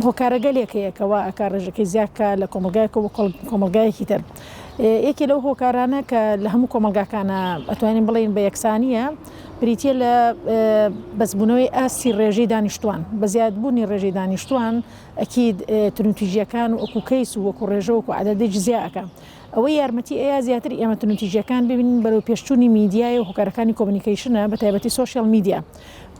هۆکارەگەلێک هەیە کە وا ئەکا ڕێژەکەی زیاد کا لە کۆمەڵگایەکەوە بۆ کۆمەڵگایەکی تر. یەکێ لەو هۆکارانە کە لە هەموو کۆمەڵگاکانا ئەتوانین بڵێین بە یەکسانییە، بریتییە لە بەسبوونەوەی ئاستی ڕێژەی دانیشتووان. بە زیادبوونی ڕێژەی دانیشتووان ئەکید تونوتیژییەکان وەکوو کەیس و وەکوو ڕێژە وەکوو عەدەدی جزیا ئەکا. ئەوەی یارمەتی ئەیا زیاتر ئێمە تونوتیژیەکان ببینین بەرەو پێشچوونی میدیای و هۆکارەکانی کۆمنیکەیشنە بە تایبەتی سۆشیال میدیا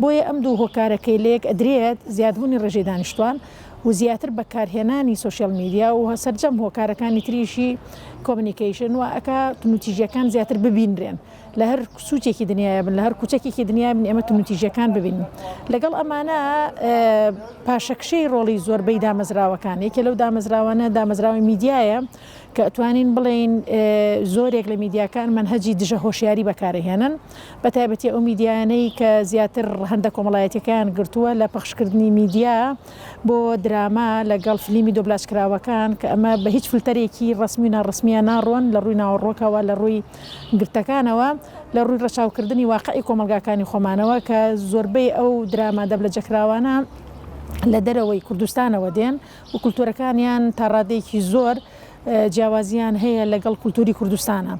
بۆیە ئەم دوو هۆکارە کەی لەیەک ئەدرێت زیادبوونی ڕێژەی دانیشتوان و زیاتر بەکارهێنانی سۆشیال میدیا و سەرجەم هۆکارەکانی تریشی کۆمنیکەیشن وا ئەکا تونوتیژیەکان زیاتر ببینرێن لە هەر سوچێکی دنیاە بن لە هەر کوچەکێکی دنیا بن ئێمە تونوتیژیەکان ببین لەگەڵ ئەمانە پاشەکشەی ڕۆڵی زۆربەی دامەزراوەکان یەکێ لەو دامەزراوانە دامەزراوەی میدیایە کە ئەتوانین بڵێین زۆرێک لە میدیاکان مەنهەجی دژە هۆشیاری بەکارئەهێنن، بە تایبەتی ئەو میدیایانەی کە زیاتر هەندە کۆمەڵایەتیەکەیان گرتووە لە پەخشکردنی میدیا بۆ دراما لە گەڵ فلیمی دۆبلاجکراوەکان کە ئەمە بە هیچ فلتەرێکی ڕەسمی و ناڕەسمیە ناڕۆن لە ڕووی ناوەڕۆکەوە لە ڕووی گرتەکانەوە لە ڕووی ڕەچاوکردنی واقعی کۆمەڵگاکانی خۆمانەوە کە زۆربەی ئەو دراما دەبلەجەکراوانە لە دەرەوەی کوردستانەوە دێن و کولتوورەکانیان تا ڕادەیەکی زۆر جیاوازییان هەیە لەگەڵ کولتووری کوردستانا.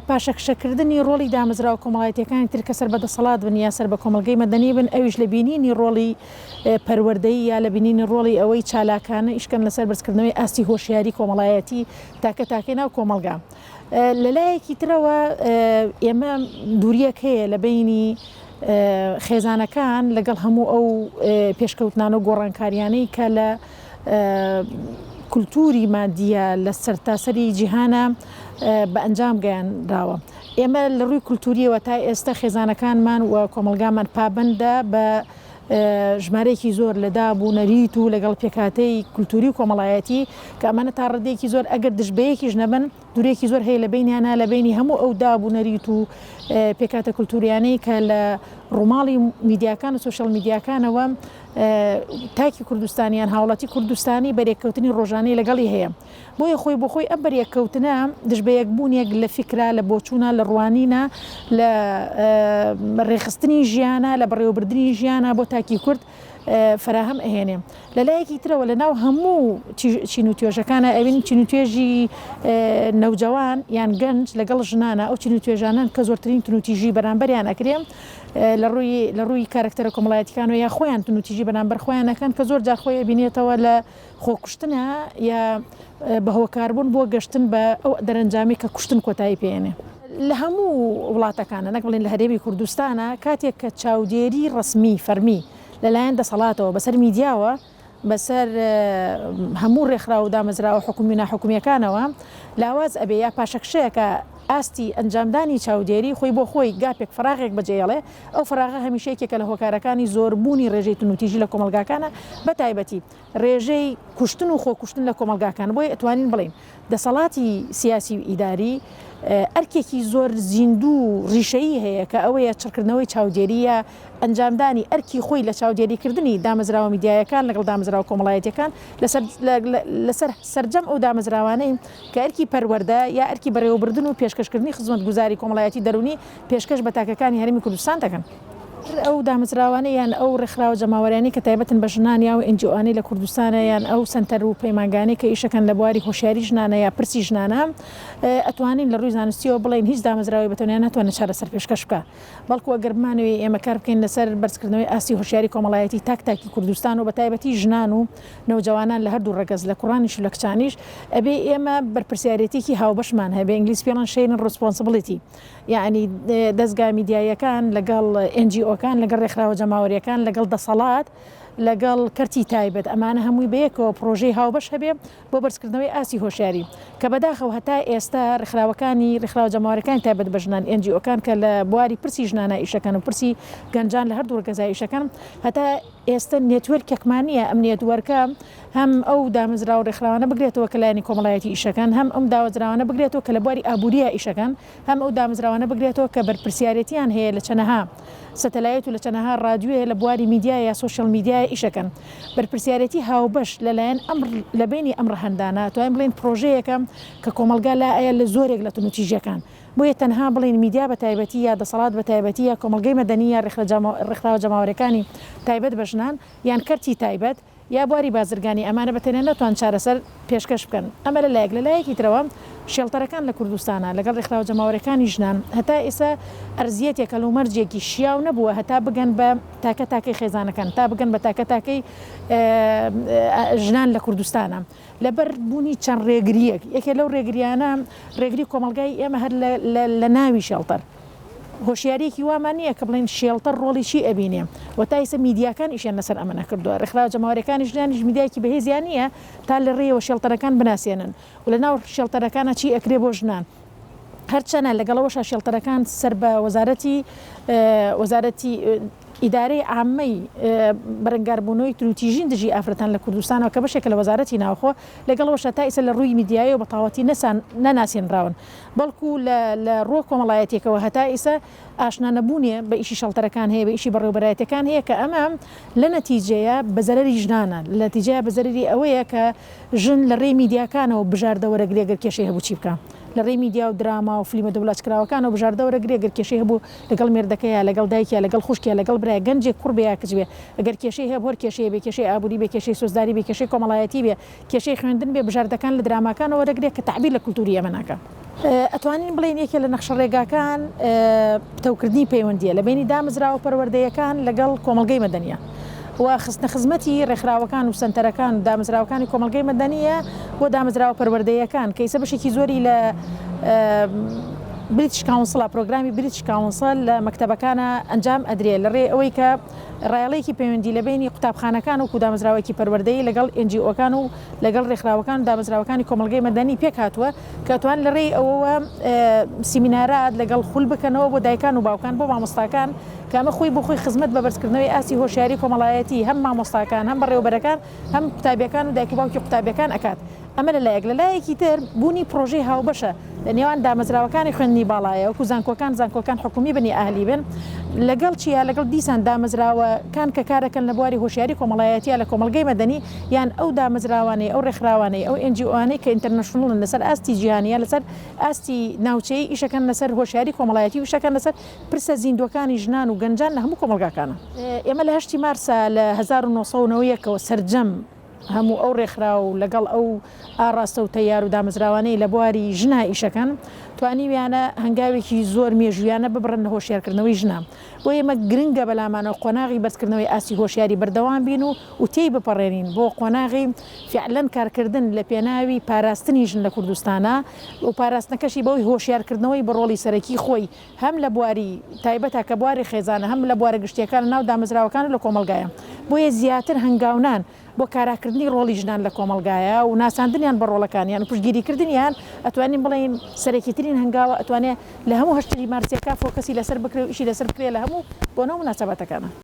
پاشەکشەکردنی ڕۆڵی دامەزراوە کۆمەڵایەتییەکانی تر کە سەر بە دەسەڵات بن یا سەر بە کۆمەڵگەی مەدەنی بن، ئەویش لە بینینی ڕۆڵی پەروەردەیی یا لە بینینی ڕۆڵی ئەوەی چالاکانە ئیشکەن لەسەر بەرزکردنەوەی ئاستی هۆشیاری کۆمەڵایەتی تاکە تاکەی ناو کۆمەڵگا. لە لایەکی ترەوە ئێمە دوورییەک هەیە لە بەینی خێزانەکان لەگەڵ هەموو ئەو پێشکەوتنانە و گۆڕانکارییانەی کە لە کولتووری مادییە لە سەرتاسەری جیهانە بە ئەنجام گەیانراوە. ئێمە لە ڕووی کولتوورییەوە تا ئێستە خێزانەکانمان و کۆمەڵگامان پابەندە بە ژمارەیەکی زۆر لە داب و نەریت و لەگەڵ پێکهاتەی کولتووری و کۆمەڵایەتی کە ئەمانە تا ڕاددەیەکی زۆر ئەگەر دژ بە یەکیش نەبن دورێکی زۆر هەیە لە بەینیانا لە بەینی هەموو ئەو داب و نەریت و پێکاتە کولتوریانەی کە لە ڕووماڵی میدیاکان و سوشل میدیاکانەوە تاکی کوردستانیان هاوڵاتی کوردستانی بەرێککەوتنی ڕۆژانەی لەگەڵی هەیە بۆیە خۆی بۆ خۆی ئەم بەرێککەوتنە دژ بە یەکبوونێک لە فکرا لە بۆچوونە لە ڕوانینە لە ڕێخستنی ژیانە لە بەڕێوەبردننی ژیانە بۆ تاکی کورد فەراهەم ئەهێنێ لە لایەکی ترەوە لە ناو هەموو چین و توێژەکانە ئەوین چین و توێژی نەوجەوان یان گەنج لەگەڵ ژنانە ئەو چین و توێژانەن کە زۆرترین تنوتیژی بەرامبەریان ئەکرێ لە ڕووی لە ڕووی کارکتەرە کۆمەڵایەتیکانەوە یا خۆیان تنوتیژی بەرامبەر خۆیان ئەکەن کە زۆر جار خۆی ئەبینێتەوە لە خۆکوشتنە یا بە هۆکاربوون بۆ گەشتن بە ئەو دەرەنجامی کە کوشتن کۆتایی پێێنێ. لە هەموو وڵاتەکانە نەک بڵین لە هەرێمی کوردستانە کاتێک کە چاودێری ڕسمی فەرمی لەلایەن دەسەڵاتەوە بەسەر میدیاوە بەسەر هەموو ڕێکخراو و دامەزراوە حکومی و ناحکومیەکانەوە لاواز ئەبێ یا پاشەکشەیەکە ئاستی ئەنجامدانی چاودێری خۆی بۆ خۆی گاپێک فراغێک بەجێڵێ ئەو فراغە هەمیشەیەکێکە لە هۆکارەکانی زۆربوونی ڕێژەی تونوتیژی لە کۆمەلگاکانە بەتایبەتی ڕێژەی کوشتن و خۆکوشتن لە کۆمەڵگاکان، بۆیە ئەتوانین بڵێین دەسەڵاتی سیاسی و ئیداری ئەرکێکی زۆر زیندوو و ڕیشەیی هەیە کە ئەوەیە چڕکردنەوەی چاودێری یا ئەنجامدانی ئەرکی خۆی لە چاودێریکردنی دامەزراوە میدیایەکان لەگەڵ دامەزراوە کۆمەڵایەتیەکان لەسەر سەرجەم ئەو دامەزراوانەی کە ئەرکی پەروەردە یا ئەرکی بەڕێوەبردن و پێشکەشکردنی خزمەتگوزاری کۆمەڵایەتی دەروونی پێشکەش بە تاکەکانی هەرێمی کوردستان دەکەن. هەر ئەو دامەزراوانەی یان ئەو ڕێکخراوە جەماوەریانەی کە تایبەتن بە ژنان یا ئەو ئێنجیئۆانەی لە کوردستانە یان ئەو سەنتەر و پەیمانگانەی کە ئیشەکەن لە بواری هۆشیاری ژنانە یا پرسی ژنانە ئەتوانین لە ڕووی زانستیەوە بڵێین هیچ دامەزراوەی بە تەنیا ناتوانێت چارەسەر پێشکەش بکا بەڵکو ئەگەر بمانەوێ ئێمە کار بکەین لەسەر بەرزکردنەوەی ئاستی هۆشیاری کۆمەڵایەتی تاک تاکی کوردستان و بە تایبەتی ژنان و نەوجەوانان لە هەردوو ڕەگەز لە کوڕانیش و لە کچانیش ئەبێ ئێمە بەرپرسیارێتیەکی هاوبەشمان هەبێ ئینگلیز پێڵەن شەیرن ڕسپۆنسبڵیتی یەعنی دەزگا میدیاییەکان لەگەڵ ئێن جی ئۆکان لەگەڵ ڕێکخراوە جەماوەریەکان لەگەڵ دەسەڵات لەگەڵ کەرتی تایبەت ئەمانە هەمووی بەیەکەوە پرۆژەی هاوبەش هەبێ بۆ بەرزکردنەوەی ئاستی هۆشیاری کە بەداخەوە هەتا ئێستا ڕێکخراوەکانی ڕێکخراوە جەماوەرەکان تایبەت بە ژنان ئێن جی ئۆکان کە لە بواری پرسی ژنانە ئیشەکەن و پرسی گەنجان لە هەردوو ڕگەزای ئیشەکەن هەتا ئێستا نێتوێرکێکمان نییە ئەم نێتوەرکە هەم ئەو دامەزراو و رێکخراوانە بگرێتەوە کە لایەنی کۆمەڵایەتی ئیشەکەن، هەم ئەم داوەزراوانە بگرێتەوە کە لە بواری ئابوورییا ئیشەکەن، هەم ئەو دامەزراوانە بگرێتەوە کە بەرپرسیارێتییان هەیە لە چەنەها سەتەلایت و لە چەنەها رادیوێ لە بواری میدیا یا سۆشیال میدیایا ئیشەکەن. بەرپرسیارێتی هاوبەش لە لایەن ئەم لە بەینی ئەم رەهەندانە ئەتوانین بڵێین پرۆژەیەکە کە کۆمەڵگا لایە لە زۆرێک لە تونوتیژییەکان. بۆیە تەنها بڵێین میدیا بە تایبەتی یا دەسەڵات بە تایبەتی یا کۆمەڵگەی مەدەنی یا رێکخراوە جەماوەرێکانی تایبەت بە ژنان یان کەرتی تایبەت، یا بواری بازرگانی ئەمانە بە تەنیا ناتوان چارەسەر پێشکەش بکەن. ئەمە لە لایەک، لە لایەکی ترەوە شێڵتەرەکان لە کوردستانە لەگەڵ ڕێکخراوە جەماوەریەکانی ژنان هەتا ئێستا ئەرزیەتێک هەلومەرجێکی شیاو نەبووە هەتا بگەن بە تاکە تاکەی خێزانەکان تا بگەن بە تاکە تاکەی ژنان لە کوردستانە لە بەر بوونی چەند ڕێگریەک یەکێ لەو ڕێگریانە ڕێگری کۆمەڵگای ئێمە هەر لە ناوی شێڵتەر هۆشیاریەکی وامان نیە کە بڵێین شێڵتەر ڕۆڵی چی ئەبینێ وە تا ئیسە میدیاکان ئیشیان لەسەر ئەمە نەکردوە ڕێکخراوە جەماوەرەکانیش لایانیش میدیایەکی بەهێزیان نیە تا لە ڕێیەوە شێڵتەرەکان بناسێنن و لە ناو شێڵتەرەکانا چی ئەکرێ بۆ ژنان هەرچەنە لەگەڵ ئەوەشا شێڵتەرەکان سەر بە وەزارەتی وەزارەتی ئیدارەی عامەی بەرەنگاربوونەوەی تروتیژین دژی ئافرەتان لە کوردستانەوە کە بەشێکە لە وەزارەتی ناوخۆ لەگەڵەوەشە تا ئیسە لە ڕووی میدیایەوە بە تاواتی نەسان نەناسێنراون بەڵکو لە لە ڕووە کۆمەڵایەتیەکەوە هەتا ئیسە ئاشنا نەبوونێ بە ئیشی شەڵتەرەکان هەیە بە ئیشی بەڕێوبەرایەتەکان هەیە کە ئەمە لە نەتیجەیە بە زەرەری ژنانە لە نەتیجەیە بە زەرەری ئەوەیە کە ژن لە ڕێی میدیاکانەوە بژاردە وەرەگرێ گەر کێشەی هەبوو چی بکا لە ڕێی میدیا و دراما و فلیمە دۆبلاج کراوەکانەوە بژاردە وەرەگرێ گەر کێشەی هەبوو لەگەڵ مێردەکە یا لەگەڵ دایک یا لەگەڵ خوشک یا لەگەڵ برا گەنجێک کوڕ بێ یا کچ بێ گەر کێشەی هەبوو هەر کێشەیە بێ کێشەی ئابووری بێ کێشەی سۆزداری بێ کێشەی کۆمەڵایەتی بێ کێشەی خوێندن بێ بژاردەکان لە دراماکانەوە وەردەگرێ کە تەعبیر لە کولتووری ئێمە ناکەن. ئەتوانین بڵێین یەکێ لە نەخشەڕێگاکان پتەوکردنی پەیوەندییە لە بەینی دامەزراوە پەروەردەیەکان لەگەڵ کۆمەڵگەی مەدەنییە و خستنە خزمەتی ڕێکخراوەکان و سەنتەرەکان و دامەزراوەکانی کۆمەڵگەی مەدەنییە بۆ دامەزراوە پەروەردەیەکان کە ئیسە بەشێکی زۆری لە بریتش کاونسڵە پرۆگرامی بریتش کاونسڵ لە مەکتەبەکانا ئەنجام ئەدرێ لە ڕێی ئەوەی کە ڕایەڵێکی پەیوەندی لە بەینی قوتابخانەکان وەکوو دامەزراوەێکی پەروەردەیی لەگەڵ ئێنجیئۆکان و لەگەڵ ڕێکخراوەکان و دامەزراوەکانی کۆمەڵگەی مەدەنی پێک هاتووە کە توان لە ڕێی ئەوەوە سیمینارات لەگەڵ خول بکەنەوە بۆ دایکان و باوکان بۆ مامۆستاکان کە ئەمە خۆی بۆ خۆی خزمەت بە بەرزکردنەوەی ئاستی هۆشیاری کۆمەڵایەتی هەم مامۆستاکان هەم بەڕێوەبەرەکان هەم قوتابیەکان و دایک و باوکی قوتابیەکان ئەکات. ئەمە لە لایەک، لە لایەکی تر بوونی پڕۆژەی هاوبەشە لە نێوان دامەزراوەکانی خوێندنی باڵایە وەکو زانکۆکان، زانکۆکان حکومی بن یا ئەهلی بن، لەگەڵ چیا لەگەڵ دیسان دامەزراوە کان کە کارەکەن لە بواری هۆشیاری کۆمەڵایەتیە لە کۆمەڵگەی مەدەنی یان ئەو دامەزراوانەی ئەو ڕێکخراوانەی ئەو NGOانەی کە ئینتەرنەشنڵن لەسەر ئاستی جیهانی یا لەسەر ئاستی ناوچەیی ئیشەکەن لەسەر هۆشیاری کۆمەڵایەتی و ئیشەکەن لەسەر پرسە زیندوەکانی ژنان و گەنجان لە هەموو کۆمەڵگاکانا. ئێمە لە هەشتی مارسا لە هەزار و نۆ سەد و نەوە و یەک ەوە سەرجەم. هەموو ئەو ڕێکخراو و لەگەڵ ئەو ئاڕاستە و تەیار و دامەزراوانەی لە بواری ژنا ئیشەکەن، توانیویانە هەنگاوێکی زۆر مێژوویانە ببڕن لە هۆشیارکردنەوەی ژنان. بۆ ئێمە گرنگە بە لامانەوە قۆناغی بەرزکردنەوەی ئاستی هۆشیاری بەردەوام بین و و تێی بپەڕێنین بۆ قۆناغی فیعلەن کارکردن لە پێناوی پاراستنی ژن لە کوردستانا و پاراستنەکەشی بەوەی هۆشیارکردنەوەی بە ڕۆڵی سەرەکی خۆی هەم لە بواری تایبەتە کە بواری خێزانە هەم لە بوارە گشتییەکە لە ناو دامەزراوەکان و لە کۆمەڵگایە بۆیە زیاتر هەنگاونان بۆ کاراکردنی ڕۆڵی ژنان لە کۆمەڵگایە و ناساندنیان بە ڕۆڵەکانیان و پشتگیری کردنیان ئەتوانین بڵێین سەرەکی ترین هەنگاوە ئەتوانێ لە هەموو هەشت تریمارسیەکە فۆکەسی لەسەر بکرێ و ئیشی لەسەر بکرێ لە هەموو بۆنە و مناسەباتەکانا.